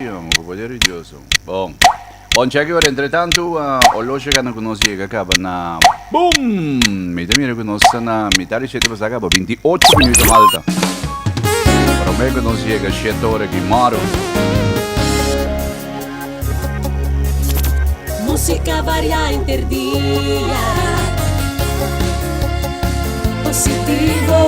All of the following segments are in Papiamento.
Sion, ku poder di Dios un. Bon. Bon cheki ora entretantu olo shegando ku nos yega kaba na Boom! Mi ta mira ku nos ta na mitad di shete basta kaba binti ocho minuto malta. Prome ku nos yega shete ora ki maro. Musika variá interdia. Positivo.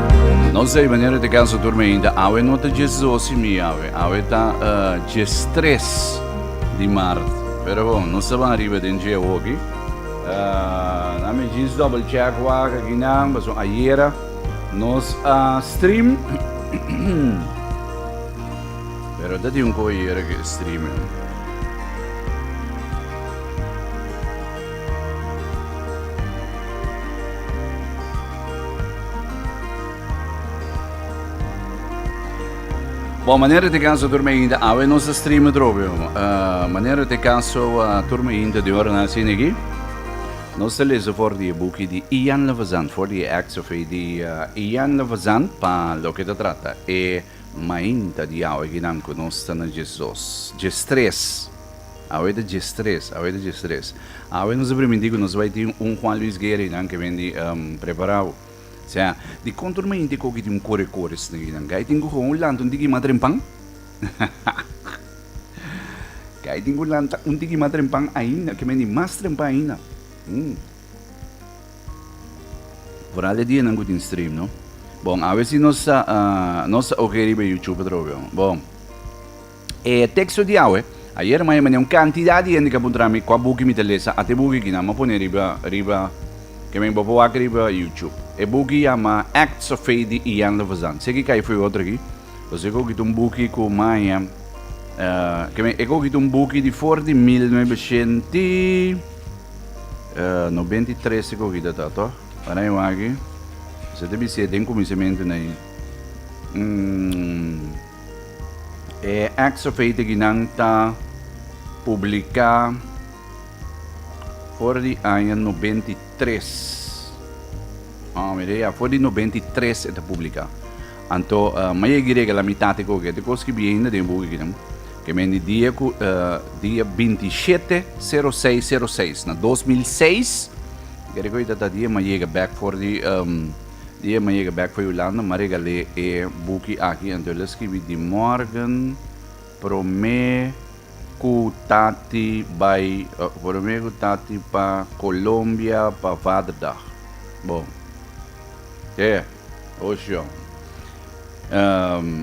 No sei wanneer het de kans dat me einde awe no te jes dosi mi awe. Awe ta uh, jes tres di maart. Pero bon, no sa van arriba den je hoki. Uh, eh, na me jes double check waka ginan, baso ayera. Nos a uh, stream. Pero dat is un ko ayera ke stream. Eh. Bon manera te caso turma ainda awe nos stream drobio. Uh, ah, manera te caso uh, ah, turma ainda de hora na sin aquí. Nos te lezen voor die boekje die Ian Levazan, voor die acts of die uh, Ian Levazan pa lo que te trata. E mainta die awe ginam con nos te na Jesus. Jesus 3. Awe ta dje stres, awe ta dje stres. Awe nos ta primintí ku nos bai tin un Juan Luis Guerra einan ke bini preparau. Sea, di konto ruma hinti e koki tin un kore kore snake einan? Kai tin ku koba un lanta un tiki ma trempan? Kai tin ku lanta un tiki ma trempan ainda, ke bini mas trempan ainda? Hm. Foral di e dianan ku tin stream, no? Bon, awe si nos ta nos ta oke riba YouTube atrobe, ho? Bon. E teksto di awe, Ayer maya mi un kantidat di hende ku a puntra mi kua buki mi ta lesa, ate buki kinan mi a pone riba riba ke men bo por wak riba YouTube. E buki yama Acts of Faith di Ian Levazan. Seki kai foi otro aki, pues e kogit un buki ku maya ke men e kogit un buki di for di mil nuebeshent i nobent i tres e kogit a ta ato. Para e wak aki, esei ta bisita den kuminsementu na i. E Exofeiteginan ta publiká for di aña nobenta i tres. Ah, mira ya, for di nobenta i tres e ta publiká. Anto, uh, ma e girega la mitat e koke, te kos ki bien na den buki kinan. Ke men di dia ku, uh, dia 27 06 06 na 2006, gere ko ita ta dia ma yega back for di, um, Di e m'a yega bek for Hulanda, m'a regal'é e buki aki, anto el a skibi di mòrgen promé ku tati bai, promé ku tati pa Kolombia pa Vaderdag. Bo, te, oshon.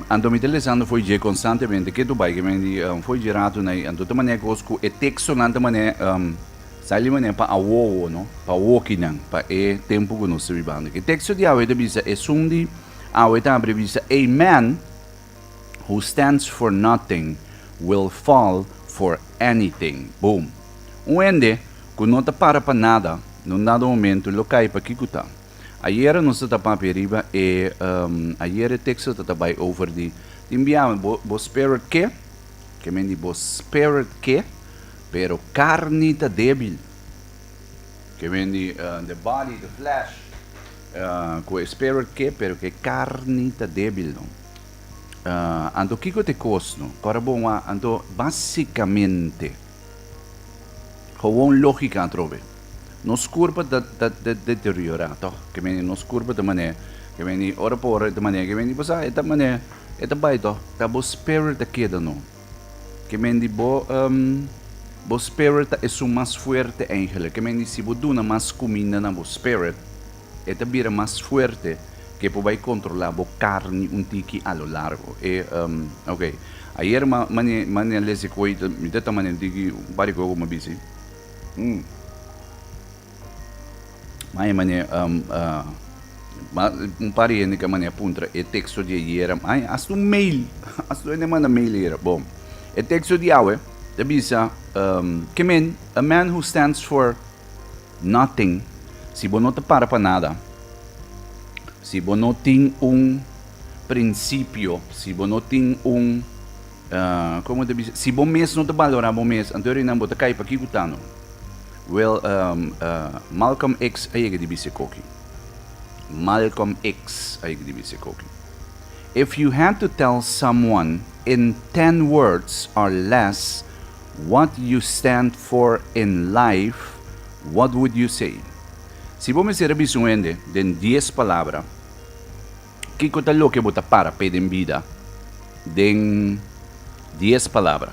Anto mi ta lesando for dje konstantemente, ke tu bai? Ke mi a di, for dje ratu n'ai. Anto ta manera kos ku e tekstonan ta manera Sali manera pa awowo, no? Pa wokinan, pa e tempu ku nos ta bibando aki. E teksto di awe ta bisa, Esun di awe ta habri bisa, A man who stands for nothing will fall for anything. Boom! Un hende ku no ta para pa nada, na un dado momentu lo kai pa kiko ta. Ayera nos ta ta papia riba e, ayera e teksto ta ta bai over di tin bia bo, bo spera ke? Ke men di bo, Spirit ke, pero karni ta débil. Ke men di, The body, the flesh, ku e Spirit ke, pero ku e karni ta débil. Anto kiko ta e kos? Kòrda bo wak, anto basikamente. Gewoon lógika atrobe. Nos kurpa ta, ta, ta deteriorá, tòg? Ke mene nos kurpa ta manera ke mene ora pa ora, e ta manera ke mene. Pasá e ta manera, e ta bai tòg. Ta bo spirit a keda no. Ke men di bo, um, bo spirit ta esun mas fuerte eindelijk. Ke men di si bo duna mas kuminda na bo spirit, E ta bira mas fuerte ke por bai kontrolá bo karni un tiki a lo largo. E, um, ok. Ayer ma, mane, mane a lese koi, mi ta tama den tiki, un par di koi ku ma bisi. Mm. Ma e mane, um, uh, ma, un par di hende ka mane a puntra e teksto di ayer, ma e hasta un mail, hasta hende manda mail ayer. Bom, e teksto di awe ta bisa, um, ke men, a man who stands for Nothing, si bo no ta para pa nada, si bo no tin un principio, si bo no tin un, ah, como te bisa, si bo mes no ta balora bo mes, anto e renan bo ta cay pa kico ta no? Well, um, ah, Malcolm X a yega di bisa ecoki. Malcolm X a yega di bisa ecoki. If you had to tell someone in ten words or less What you stand for in life, what would you say? Si bo mester a bisa un hende den dies palabra, kiko ta loke bo ta para p'e den bida den dies palabra?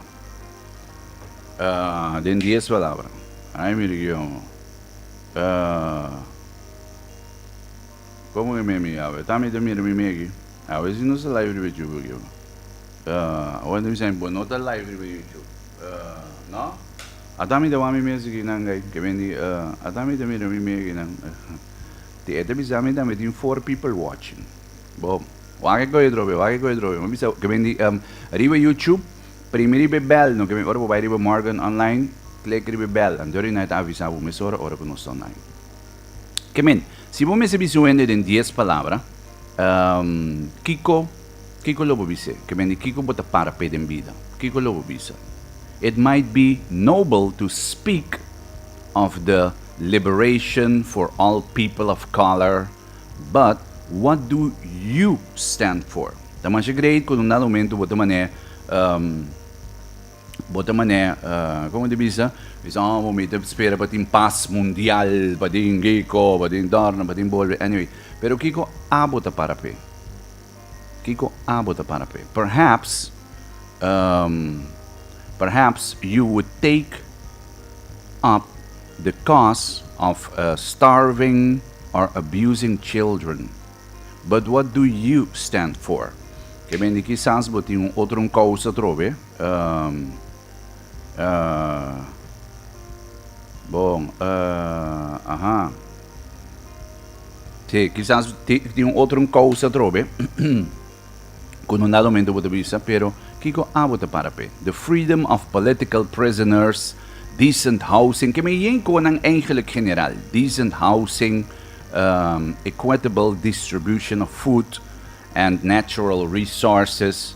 Den dies palabra. Ay mi region. Komo ke mi a mira? Tambe ta mira mi me aki. Awe si nos a live riba Yubi aki. Awor mi sa mi bo no ta live riba YouTube, no? Ata mi ta wak mi mes di kinan guy ke bendí, ata mi ta mira mi mes di kinan. Te ta bisa mi tambe tin four people watching. Bo wak e koyo drobe, wak e koyo drobe. Mi bisa ke bendí riba YouTube primi riba e bel no ke bendí ora bo bai riba Morgan Online klik riba e bel anto di nai ta avisa bo mes ora ora ku nos ta online. Ke bendí si bo mester bisa un hende den dies palabra kiko. Kiko lo bo bis'é? Ke men di kiko bo ta para p'é den bida? Kiko lo bo bisa? It might be noble to speak of the liberation for all people of color, but what do you stand for? Ta masha great ku undado momento bo ta man'é ehm bo ta man'é ehm komo ta bisa? Bisa oh bo mita spera pa tin pas mundial paden giko, paden dòrna, paden bolbe anyway pero kiko abo ta para p'é? Kiko abo ta para p'e? Perhaps, um, perhaps you would take up the cause of uh, starving or abusing children. But what do you stand for? Ke ben di kisas bo tin un otro un causa trobe. Um, uh, bon, uh, aha. Sí, kisas tin un otro un causa atrobe ku no na domento bo ta bisa, pero kiko abo ta para pe? The freedom of political prisoners, decent housing, ke men yen ko nan eigenlijk general, decent housing, um, equitable distribution of food and natural resources,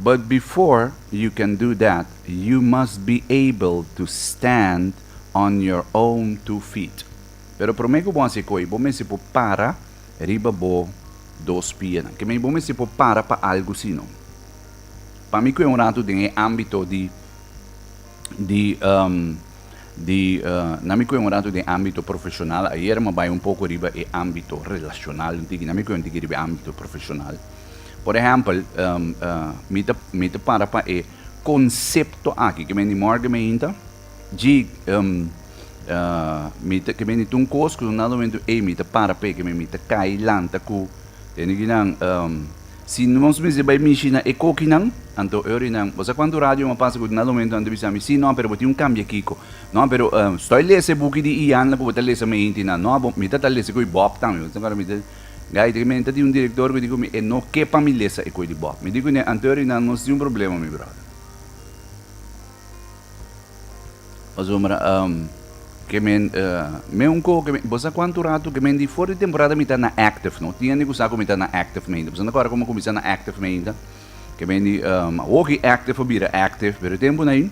But before you can do that, you must be able to stand on your own two feet. Pero prome ku bo hasi koe, bo mester por para riba bo dos pianan. Ke mei, bo mester por para pa algu sino. Pa mi koe un ratu den e ámbito di. di di nan mi kue un ratu den ambito profesional ayer mi a bai un poco riba e ambito relacional un tiki nan mi kue un tiki riba e ambito profesional por ehempel mi ta mi ta para pa e concepto aki ke bini morgen me hinta dji mi ta ke bini tu un cos ku un dado momento ey mi ta para p'e ke mi ta cay lanta ku Enignan, Si nos mester bai mishi na e kokinan, anto Örinan, bo sa kuantu radio mi a pasa ku dna lomentu anto bisa mi, Si, no, pero bo tin un kambia kiko. No, pero stoi lesa e buki di Ian la ku bo ta lesa mei inti nan. No, mi ta ta lesa ku e Bob tambe. Bo ta akorda mi ta Gait ri menta tin un direktor ku di ku mi e no ke pa mi lesa e koe di Bob. Mi di ku ne, Anto Örinan, nos tin un problema mi bròder. Asombra, um, ke men, uh, men un ko, ke bo sa kuantu ratu ke men di for di temporada mi ta na active, no? Tin hende ku sa ku mi ta na active meinta. Bo sa nta kòrda kòmò kuminsá na active meinta? Ke men di, um, hogi active a bira active, pero e tempunan ei,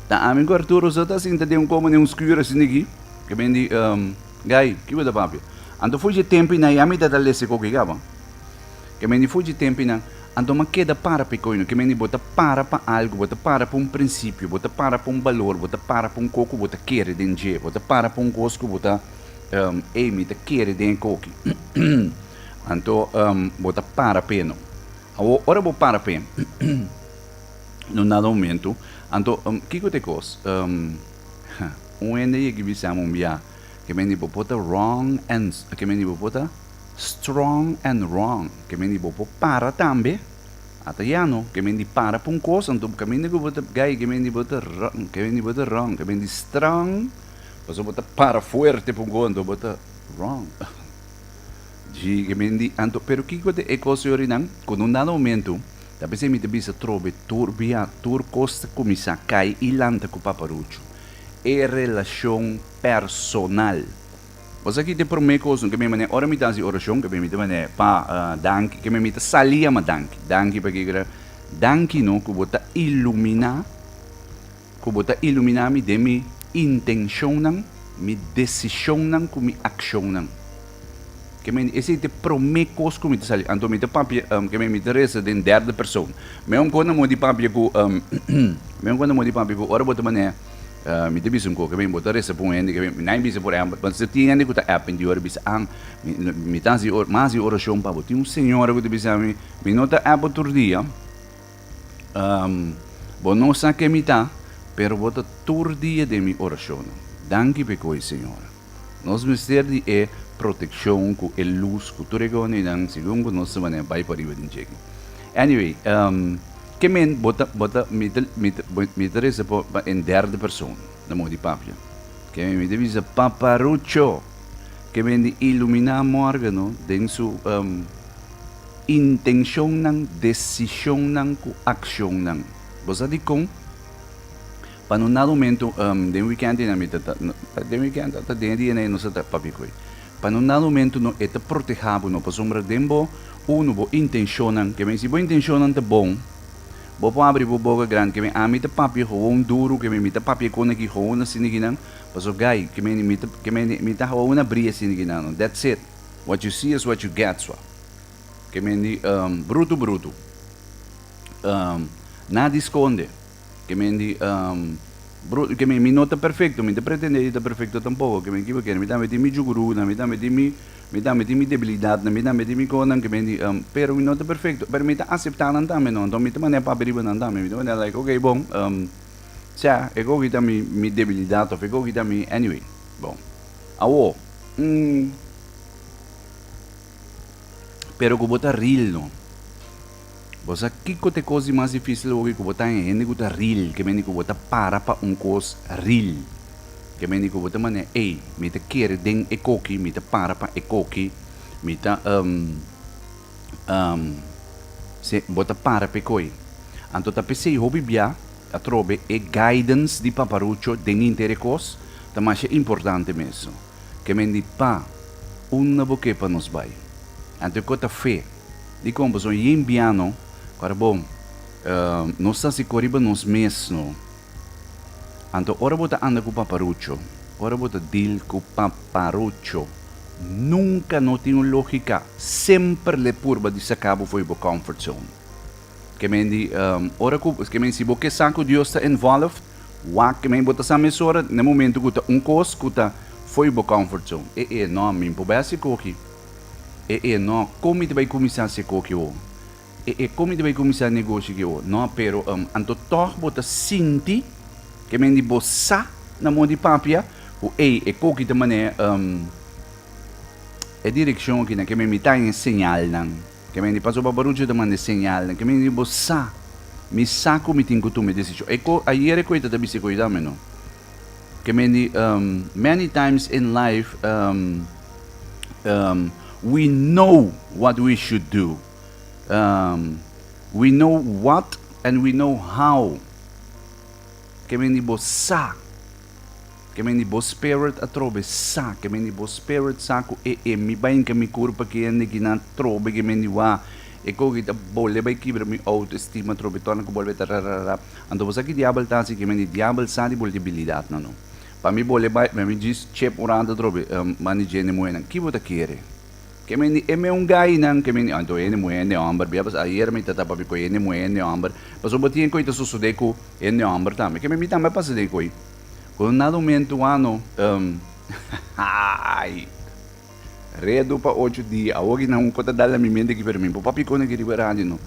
ta ami ku Arturo so ta sinta den un komo den un skür asina aki, ke men di, um, Guy, kico ta papia? Anto fuchi e tempinan ei, ami ta ta lese kokiga, bo? Ke men di fuchi e tempinan. Anto m'a keda para p'e koino. Ke mende bo ta para pa algu, bo ta para pa un prinsipio, bo ta para pa un balor, bo ta para pa un kos ku bo ta kere den dje, bo ta para pa un kos ku bo ta, ehm, ei, mi ta kere den e koki. Anto, ehm, bo ta para p'e no. Awo, ora bo para p'e, na un dado momentu, anto, ehm, kiko ta e kos? Ehm, ha, un hende a yega i bisam'e un biaha, Ke meni bo por ta wrong and ke meni bo por ta strong and wrong. Ke meni bo por para tambe. Ata ya no. Ke meni para pa un kos anto bo kaminda ku bo ta gai ke meni bo ta wrong ke meni bo ta wrong. Ke meni strong pasobra bo ta para fuerte pa un kos anto bo ta wrong. Ji ke meni anto pero kiko ta e kos yori nan ku na un dado momento ta bisa mi ta bisa trobe tur biaha tur kos ta kuminsá kai i lanta ku paparuchu. e relashon personal. Boso a kita e promé kos no ke mi manera ora mi ta hasi orashon, ke mi mita manera, Pa, danki, ke mi mita sali yama danki. Danki pakikera? Danki no ku bo ta iluminá, ku bo ta iluminá mi den mi intenshonnan, mi desishonnan ku mi akshonnan. Ke men, ese te promé kos ku mi ta sali. Anto mi ta papia, um, ke men, mi ta resa den derde persoon. Mi un kona mo di papia ku, um, mi un kona mo di papia ku ora bo ta manea, uh, mi ta bisa un ko, ke men, bo ta resa pa un hende, ke men, nadie bisa por ehempel, but ta tin hende ku ta app mi di ora bisa, Ang, mi, mi ta hasi mas di orashon pa bo. Tin un señora ku ta bisa mi, mi no ta app bo tur dia, um, bo no sa ke mi ta, pero bo ta tur dia den mi orashonnan. Danki pa e ku ei, señora. Nos mester di e protekshon ku e lus ku tur e gonenan segun ku nos ta manera bai pariba den djeki. Anyway, ehm, ke men bo ta, bo ta, mi ta, mi ta, bo, mi ta resa pa, pa en derde person, na moda di papia. Ke men, mi ta bisa, Paparucho! Ke men di iluminá Mórgano den su, ehm, intenshonnan, desishonnan ku akshonnan. Bo sa dikon? Pa no na rumentu den weekend ey na mi ta ta den weekend ata den dia ey nos ta papia cu ey pa no na rumentu no e ta proteha bo no pasobra den bo uno bo intencionnan que men si bo intencionnan ta bon bo por abri bo boca grandi que men ami ta papia gewoon duru que men mi ta papia con aki gewoon asi na guinan paso guy que men mi ta que men mi ta gewoon abri asi na guinannan that's it what you see is what you get so que men di brutu brutu nada esconde. Kemen di, Um, bro, kemen, mi no ta perfecto, mi ta pretende di ta perfecto tampoco, kemen kiba kere, mi tambe tin mi jugurunan, mi tambe tin mi, mi tambe tin mi debilidadnan, mi tambe tin mi konan, kemen di, Um, pero mi no ta perfecto, pero mi ta acepta nan tambe, no, enton mi ta manera papia riba nan tambe, mi ta manera like, ok, bon, um, sea, e koki ta mi, mi debilidad, of e koki ta mi, anyway, bon, awo, um. Pero ku bo ta ril no. Bo sa kiko ta e kos di mas difísil hopi ku bo ta e hende ku ta ril, ke mende ku bo ta para pa un kos ril. Ke mende ku bo ta manera, ey, mi ta kere den e koki, mi ta para pa e koki, mi ta um, um, si, bo ta para p'e koe. Anto ta pesey hopi bia, atrobe e guidance di Paparucho den henter e kos ta masha importante mesun. Kemen di Pa, unda Bo ke pa nos bai? Anto e kor ta fe. Dikon pasobra yen bia no, para Bo, nos ta hasi kor riba nos mes no. Anto ora Bo ta anda ku paparucho, ora Bo ta deal ku paparucho, nunka no tin un logika, semper le purba di saka Bo fo'i Bo comfort zone. Ke men di, um, ora ku, ke men si bo ke sa ku Dios ta involved, wak, ke men bo ta sa mesora, na momento ku ta un kos ku ta foi bo comfort zone. E, e, no, mi por bai si koki. E, e, no, kon mi ta bai kuminsá si koki awo? E, e, kon mi ta bai kuminsá negoshi ki awo? No, pero, um, anto tòg bo ta sinti, ke men di bo sa na mó di papia, ku ei, e koki ta manera, um, e direkshon akina, ke men mi ta haña señalnan. Ke mende paso pa baruchi ta manda e señalnan. Ke mende di bo sa, mi sa ku mi tin ku tuma e desishon. E ko, ayere ku e ta ta bisa ku e dame no. Ke mende, um, many times in life, um, um, we know what we should do. Um, we know what and we know how. Ke mende di bo sa. Ke men di bo spirit atrobe sa, ke men di bo spirit sa ku e e mi bai inka mi kur pa ke hende ki nan atrobe ke men di wak e koki ta bole bai kibra mi auto estima atrobe torna ku bolbe ta rararara anto bo sa ki diabel ta si ke men di diabel sa di bol debilidatnan no pa mi bole bai pa mi djis chep un ranta atrobe man di djende muhenan ki bo ta kere. Ke men di, E meun gainan, ke men di, Anto hende muhé, hende hòmber. Bia pues, ayera mi ta tapa bico hende muhé, hende hòmber. Pasobra bo tien cu ey ta sosodé cu hende hòmber tambe. Ke men di tambe a pasa den cu ey. Cu un nada un mentu ano, um, haai, redu pa ocho dia. Awo aki nan un cota dal na mi mente aki, pero mi bo papia con aki riba radio, no.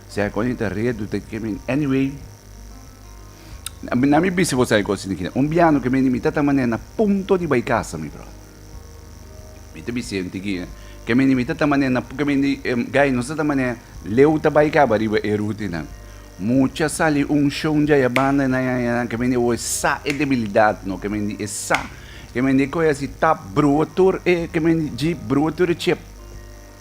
Sea con ey ta redu, ta ke men. Anyway, na mi bisi bo sa e cos tin aki na. Un biano ke men di, mi ta ta manera na punto di bay casa, mi brother. Mi ta bisa ente ki ke mende mi ta ta mané na ke mende gai nos ta ta mané leu ta bai kaba riba e rutinan. Mucha sali unshon dja ya banda nan ya ya nan ke mende oe sa e debilidat no ke mende e sa ke mende koe asi tap brua tur e ke mende djip brua tur e chep.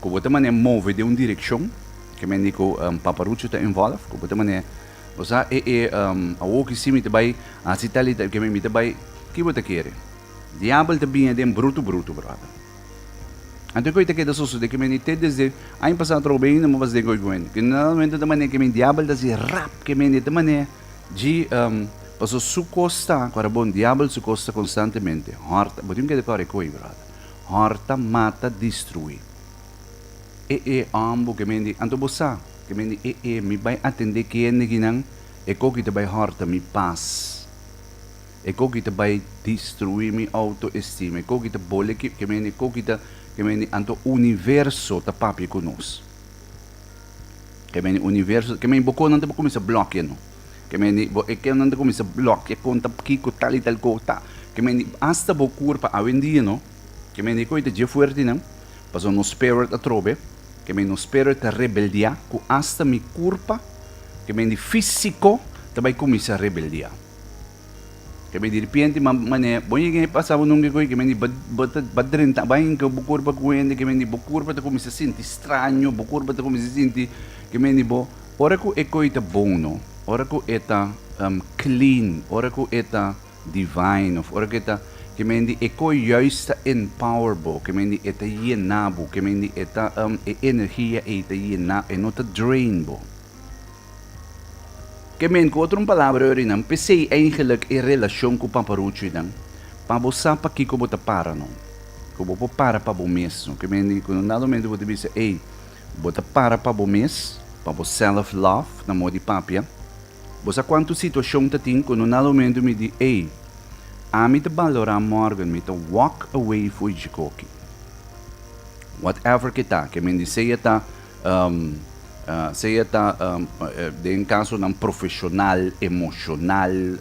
Ku bo ta manera move den un direkshon, ke men di ku Papa Rucio ta involve, ku bo ta manera, bo sa e e awoki si mi ta bai hasi tal i tal, ke men mi ta bai, ki bo ta kere? Diabel ta biña den brutu brutu, bròder. Anto koi ta keda sosodé, ke men di te desde aña pasá atrò ben inda mas den koi ku hende. Generalmente ta manera ke men diabel ta hasi rap, ke men di ta manera dji pasobra su kos ta, ku a rabon diabel su kos ta konstantemente hòrta. Bo tin keda kòrè koi, bròder. Hòrta, mata, distruí. E e òm bo ke men di, anto bo sa? Ke men di, e e mi bai atendé kende kinan e koki ta bai hòrta mi pas, e koki ta bai distruí mi outoestima, e koki ta bole ki, ke men di, e koki ta, ke men di, anto universo ta papia ku nos. Ke men di, universo, ke men di, bo konan ta por kuminsá blòkianan. Ke meni bo e kèlnan ta kuminsá blòkiá konta kiko tal i tal kos ta. Ke meni asta bo kur pa awendia no. Ke meni koe ta dje fuertenan. Pasobra nos spèrit atrobe. Ke meni nos spèrit ta rebeldiá ku asta mi kurpa ke meni físiko ta bai kuminsá rebeldiá. Ke men diripienti man mané bo yega e pasa bo nunke koe ke men di ba ba ta ba drenta bai inka bo kurpa ku hende ke men di bo kurpa ta kuminsa sinti straño bo kurpa ta kuminsa sinti ke men di bo ora ku e koe ta bono ora ku e ta klin ora ku e ta divain òf ora ku e ta ke men di e koe juis ta enpower bo ke men di e ta yena bo ke men di e ta e energia ei ta yena e no ta drain bo. Ke men ku otro un palabra ori nan, pesei eingelik e relashon ku Papa Rucu i nan, pa bo sa pa kiko bo ta para no. Ku bo por para pa bo mes no. Ke men di ku nan dado momento bo ta bisa, ey, bo ta para pa bo mes, pa bo self love, na modi papia. Bo sa kuantu situashon ta tin ku nan dado momento mi di, ey, ami ta balorá Morgan, mi ta walk away fo'i djikoki. Whatever ke ta, ke men di sea ta, Sea ta den kasonan profeshonal, emoshonal,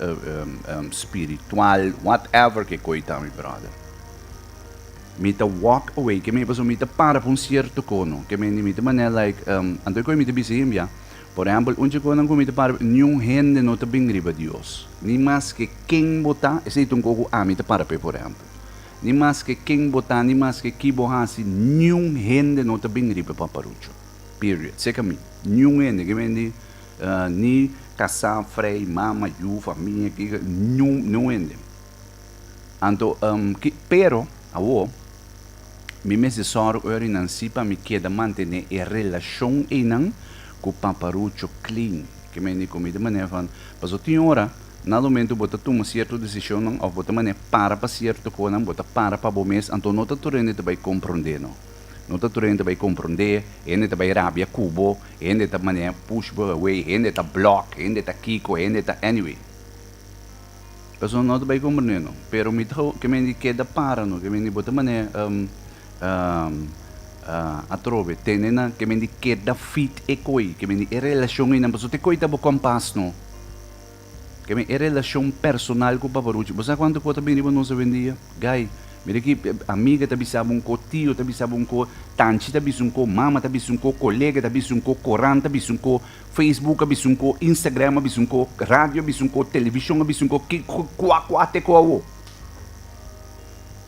spiritual, whatever ke koi ta mi brother. Mi ta walk away, keme pasobra mi ta para pa un sierto kono, keme di mi ta manera like, anto e koi mi ta bisa hembia, por ehempel un chikonan ku mi ta para, niun hende no ta bin riba Dios, ni maske ken bo ta, esei ta un kos ku ami ta para p'e por ehempel. Ni maske ken bo ta, ni maske ki bo hasi, niun hende no ta bin riba paparucho. Period. Seka mi. Niun hende ke ben di ni kasá, frei, mama, yu, famia, ki, niun, niun hende. Anto, ki, pero, awo, mi mester sòru ora i nan si pa mi keda mantené e relashon einan ku paparucho clean. Ke men di ku mi di manera van, paso tin ora, Na lumentu bo ta tuma sierto desishonnan òf bo ta manera para pa sierto konan, bo ta para pa bo mes, anto no ta tur hende ta bai komprondé no. No ta tur hende ta bai komprondé, hende ta bai rabia ku bo, hende ta manera push bo away, hende ta blòk, hende ta kiko, hende ta anyway. Persona no ta bai komprondé no. Pero mi ta ke men di keda para no, ke men di bo ta manera atrobe tene nan, ke men di keda fit e koi, ke men di e relashon einan, pasobra te koi ta bo kompas no. Ke mi e relashon personal ku Papa Ruchi. Bo sa kuantu ku ta bin riba nos awendia? Guy, mira ki amiga ta bisa bo un ko, tio ta bisa bo un ko, tanchi ta bisa un ko, mama ta bisa un ko, kolega ta bisa un ko, korant ta bisa un ko, Facebook a bisa un ko, Instagram a bisa un ko, radio a bisa un ko, televishon a bisa un ko, ki kua kua te ko awo?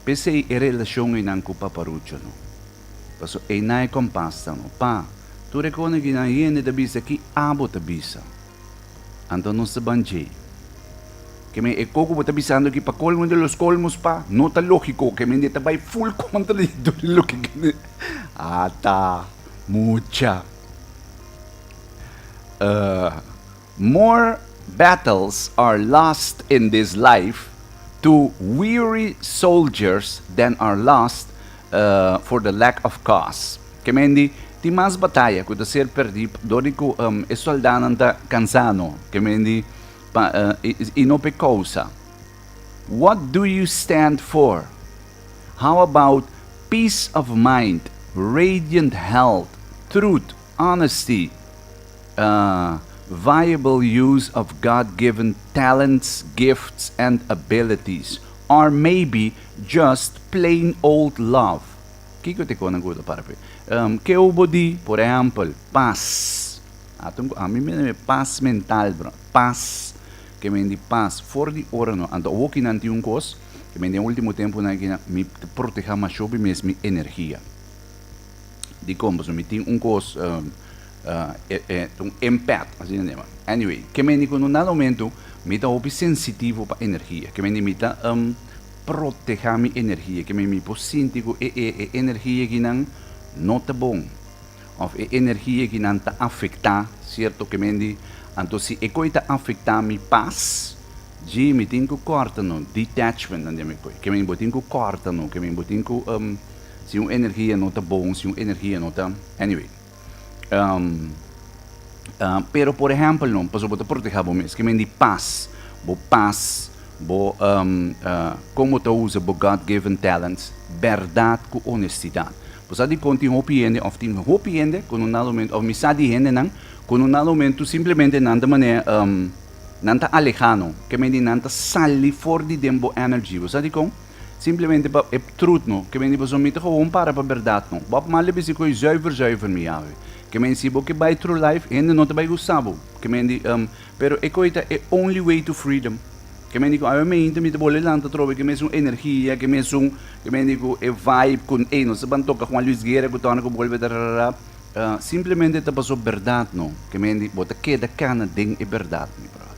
P'esei e relashon einan ku Papa Ruchi no. Paso einan e kompas ta no. Pa, tur e kosnan ku nan hende ta bisa, ki abo ta bisa? Anto nos ta ban dje. Ke men e koko bo ta bisando aki pa colmo de los colmos pa no ta logiko ke mende ta bai full contra di tur loke kende ata mucha more battles are lost in this life to weary soldiers than are lost for the lack of cause. Kemendi, tin mas bataya ku ta ser pèrdí dor di ku e sòldánan ta kansá no. Kemendi, pa i no p'e kousa. What do you stand for? How about peace of mind, radiant health, truth, honesty, viable use of God given talents, gifts and abilities? Or maybe just plain old love? Kiko e tecona cu ta para p'e? Ke hu bo di, por ehempel, paz. Ata un cu, a mi mester e paz mental, bra. Paz, ke men di paz for di ora no. Anto awokinan tin un cos, ke men di den ultimo temponan aki na, mi ta proteha masho bi mes mi energia. Dicon? Pasobra mi tin un cos, un empath, asina nan naman. Anyway, ke men di cu no na e momentu mi ta hopi sensitivo pa energia. Ke men di mi ta. Proteha mi energia ke mi mi por sinti ku e e e energia kinan no ta bon òf e energia kinan ta afektá sierto kemendi. Anto si e koi ta afektá mi pas, dje mi tin ku kòrta no, detachment nan di mi koi. Kemen bo tin ku kòrta no, kemen bo tin ku si un energia no ta bon, si un energia no ta, anyway. Um, uh, pero por ejemplo, no, paso bota proteja bo mes, que men di paz, bo paz, bo um, uh, como te usa bo God-given talents, verdad cu honestidad. Pues di conti hopi hende, of tin hopi hende, con un momento, of misa di hende nan, con un momento simplemente nan de manera, um, nan ta alejano, que men di nan ta sali for di den bo energy. Pues di con? Simplemente pa e trut no. Ke men di boso, Mi ta gewoon para pa bèrdat no. Bo ap mali bisi ku e zùiver zùiver, mi Yahwe. Ke men si bo ke bai tru laif, hende no ta bai gusta bo. Ke men di, Um, pero e koi ta e only way to freedom. Ke men di ku awe meinta mi ta bole lanta atrobe ke mesun energia, ke mesun, ke men di ku e vibe ku, ey, nos ta ban toka Juan Luis Guerra ku tònde ku bolbe ta rarara. Simplemente ta boso bèrdat no. Ke men di, bo ta keda kana den e bèrdat, mi bròder.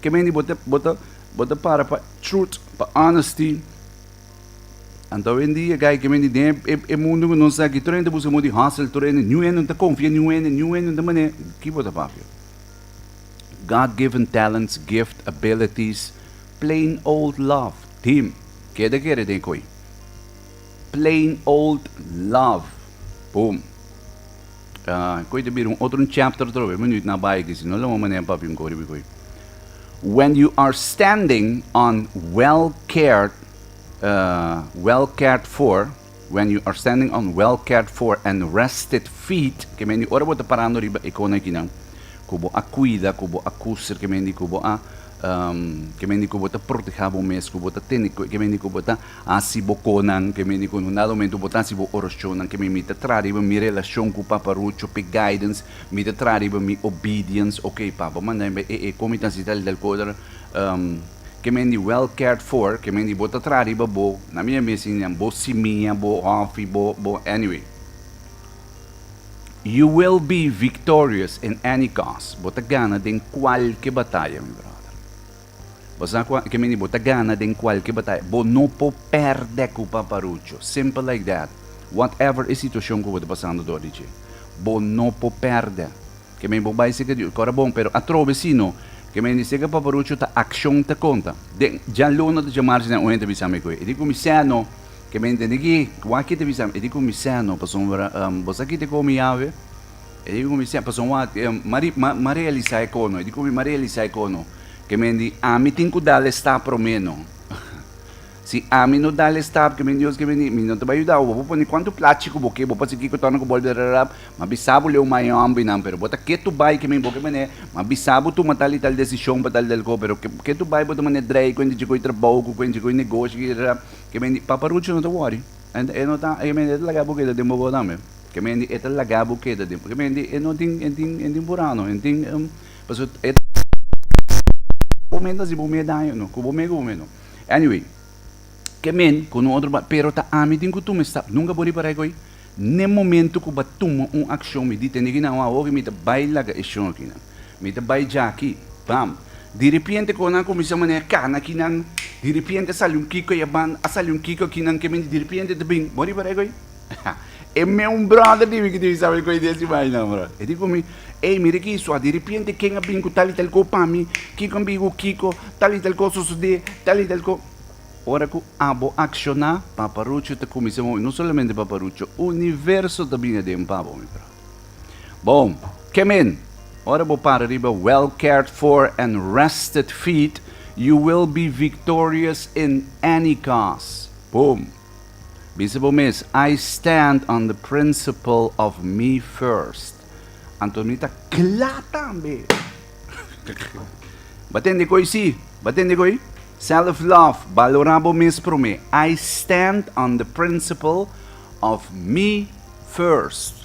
Kemey di bo te, bo te, bo te para pa truth, pa honesty. Anto wendi e guy kemey di den e, e mundo ku nos aki, tur ente buska mo di hustle, tur ente, niun ente ta konfia niun ente, niun ente ta mane, ki bo ta papia? God given talents, gift, abilities, plain old love, tim, keda kere den koy. Plain old love, boom. Koe ta bira un otro chapter otro vez, menu na bai di si no lama mané papi un koribi koe. When you are standing on well cared uh, well cared for, when you are standing on well cared for and rested feet, ke mendi ora bo ta parando riba e kona kinan, kubo a kuida, kubo a kuser, ke mendi kubo a um, ke mendi kubo ta proteha bo mes, kubo ta tene, ke mendi kubo ta Hasi bo konan ke mindi ku unda nomentu bo ta hasi bo orashonnan ke mi mi ta traha riba mi relashon ku Papa Rucho p'e guidance mi ta traha riba mi obedience ok Papa manda mi e e kon mi ta hasi tal i tal kosa ke mindi well cared for ke mindi bo ta traha riba bo na mi a mesi nan bo simia bo hòfi bo bo anyway you will be victorious in any cause bo ta gana den kualke bataya mi brother. Bo sa kua, e ke meni bo ta gana den kualke bataya, bo no por pèrdè ku paparucho. Simpel like that. Whatever e situashon ku bo ta pasando dor di dje, bo no por pèrdè. Ke meni bo bai seka di kòrda bon, pero atrobe sino, ke meni seka paparucho ta akshon ta konta. Den djaluna ta djamar dje nan un hende a bisa mi ku e di ku mi sè no, ke meni tene ki wak kiti bisa mi, e di ku mi sè no, pasobra bo sa kiti komo mi yawe? E dibi ku mi semper son wak, Mari, ma, ma realisá e kono. E di ku mi, ma realisá e kono. Ke men di, ami tin ku dal e stap promeno. si ami no dal e stap, ke men Dios, ke men di, mi no ta bai yuda bo. Bo por pone kuantu plachi ku bo ke, bo por hasi kiko torna ku bolbe rararap, ma bisa bo leu mai hòmbrinan, pero bo ta ke tur bai ke men bo ke manera, ma bisa bo tuma tal i tal desishon pa tal i tal ko, pero ke, ke tur bai bo ta manera drei kuenta dje koe trabou, ku kuenta dje koe negoshi, ke men di, Paparucho no ta wòri. E, e no ta, ke men di, e ta laga bo keda den bobo tambe. Kemendi e ta laga bo keda den por kemendi e no tin e tin e tin burano e tin paso e ta bo me ta si bo me daño no ku bo me ku bo me no anyway kemen ku un otro pero ta ami tin ku tuma stap nunka bo ripar'ai ko'i n'e momento ku bo a tuma un akshon mi di tende ki na wou oke mi ta bai laga e shon akinan mi ta bai ja aki bam diripiente konan a kuminsá manera kana akinan diripiente a sali un kiko a yaban a sali un kiko akinan kemen diripiente ta bin bo a ripar'ai ko'i. Ha, e meun bròder di mi ku tin bisa bai koe di esei bainan, bro. E di ku mi, Ey, mira ki swa, di repiente ken a bin ku tal i tal ko pa mi, Kiko a bin ku Kiko, tal i tal kos a sosodé, tal i tal ko-. Ora ku abo akshoná, paparucho ta kuminsá movi, no solamente paparucho, universo ta bin aden pa bo, mi bro. Bon, ke men, ora bo para riba well cared for and rested feet, you will be victorious in any cause. Boom! Bisa bo mes, I stand on the principle of me first. Anto mi ta cla tambe. Bo a tende cu ei si? Bo a tende cu ei? Self love, balora bo mes prome. I stand on the principle of me first.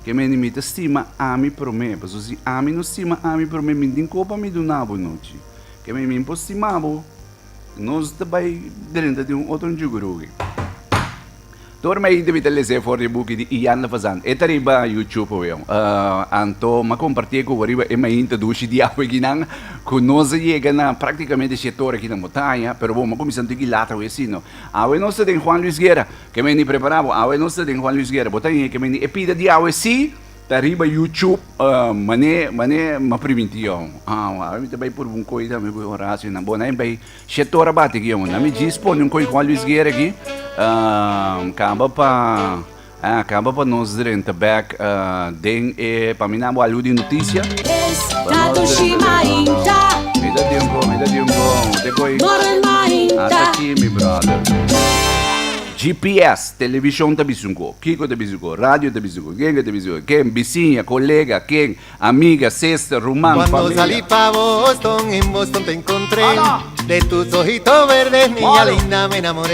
Ke mende mi ta stima ami prome. Pasobra si ami no stima ami prome, mi tin cu pa mi duna bo nochi. Ke mende mi por stima bo. Nos ta bai drenta di un otro njugurugi. Tor mei debi ta lesé for di buki di Ian la Fazan. E ta riba YouTube awe. Uh, anto ma compartí cu riba e main ta dushi di awe kinan cu nos a yega na prácticamente she tor aki na montaña, pero bo ma cuminsa un tiki lat awe sino. Awe nos ta den Juan Luis Guerra. Ke meni prepara bo. Awe nos ta den Juan Luis Guerra. Bo ta hien ke meni e pida di awe sí. Ta riba YouTube mané mané ma priminti yo awa mi ta bay purba un koy tambe ku Horacio na bo na bay shete ora bati ki yo na mi djis pone un koy ku Juan Luis Guerra aki kaba pa kaba pa nos drenta bek den e pa mi na bo alu di noticia mi ta tin un koy mi ta tin un koy te koy ata aki mi brother GPS. Televishon ta bisa un ko, kiko ta bisa un ko, radio ta bisa un ko, genge ta bisa un ko, ken, bisiña, kolega, ken, amiga, sester, ruman, familia. Cuando salí pa Boston, en Boston te encontré, de tus ojitos verdes, niña linda, me enamoré.